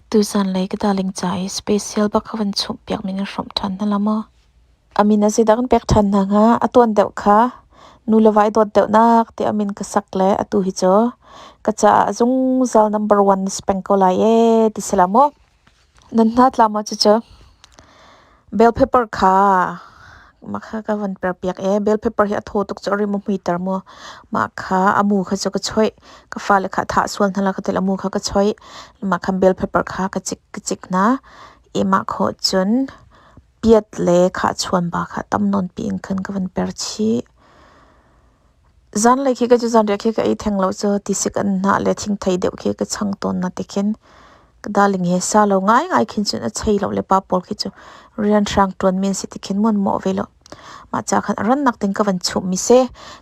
Tuzan lei ka darling ca i special bak ka van chumhpiak ning in hrawmh ṭhan hna la maw? A min a zeidah kan pek ṭhan hna hnga? A tuan deuh kha nu le va i dawt deuhnak ti a min ka sak le atu hi cu ka caah zungzal number one na si peng ko lai ee ti si la maw? Nan hna tla maw cucu? Bell pepper kha mah kha ka von perpiak i bell pepper hi a thaw tuk cu a rim a hmuiter maw. Mah kha a mu kha cu ka choih. Ka fale kha thah sual hna la ka ti i a mu kha ka choih. Mah khan bell pepper kha ka cik ka cik hna i mah khawh cun piat le khahchuanba kha tam nawnpi in khan ka von per chih. Zanlei khi ka cu zanriah khi ka ei theng lo cu tisik an hnah le thingthei deuh khi ka chang tawn na ti khin ka darling he sa lo ngaingai khin cun a chei lo le pa pawl khi cu rian hrang ṭuan men si ti khin muanmawh ve lo. Mah ca khan a rannak ding ka van chumh mi si.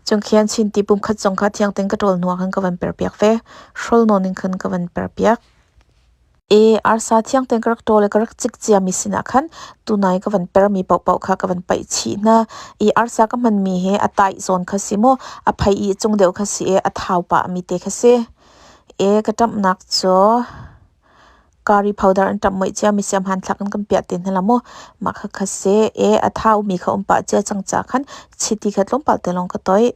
Cung khin Chin ti pumkhat zong kha thiang tein ka ṭawl hnuah khan ka van perpiak ve. Hrol nawn in khan ka van perpiak. ee arsa thiang ten ka rak ṭawl i ka rak cik ciami sinah khan tunai ka van permi paohpaoh kha ka van paih chih hna i arsa ka hmanmi hi a taih zawn kha si maw a phei i cung deuh kha si i a thau pahmi te kha si e ka ṭamhnak cu curry powder an ṭamh moih ciami siam han thlak in kan piah te hna la maw mah kha kha si e a thaumi kha um pah cia cang ca khan chiti kha tlawmpal te lawng ka toih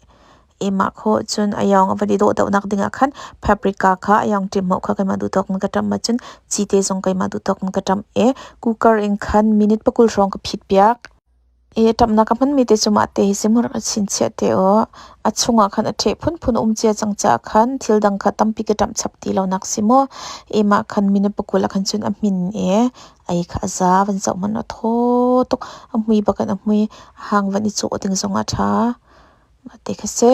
i mah kho cun a yong a van i dawhdawhnak dingah khan paprika kha a yong ṭim maw kha keimah duhthawk in ka ṭamh ahcun ci te zong keimah duhthawk in ka ṭamh i cooker in khan minute pakul hrawng ka phitpiak i ṭamhnak a hmanmi te cu mah te hi simrang a chinchiah te u a chungah khan a ṭheh phunphun a um cia cang caah khan thil dang kha tampi ka ṭamh chap ti lonak si mu i mah khan minute pakul ah khan cun a hmin i Ei kha a za van zoh hmanh a thaw tuk a hmui bak in a hmui hang van i cuh ding zong a tha. Mah ti kha si.